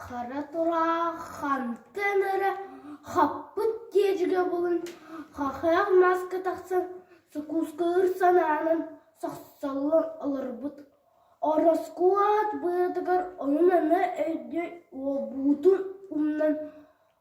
Хара тураах хантан эрэ хаппыт диэчигэ булан хахыйах мааска тахсан сукуускалыыр санаанан сохсоллон олорбут ороскуот быатыгар ойун-ана өйдөй уолбутун умнан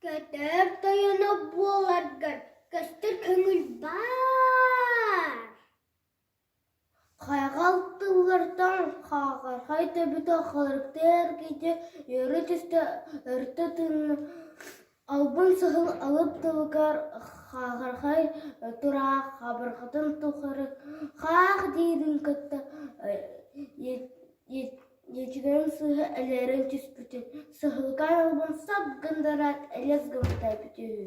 Көтөр тойоно буоларгар көстөр көҥүл баар. Хайҕал тыллартан хаҕархай төбөтө халырыктыыр киһи үөрэ түстэ өртө тыынна, албын саһыл алып тылыгар хаҕархай тураах хабарҕатын тухары хаах диирин кытта Дьиэтигэрим сыыһа элээрэ түспүтүн, саһылга араллыбын сап гындараат элэс гыммыта эбитэ үһү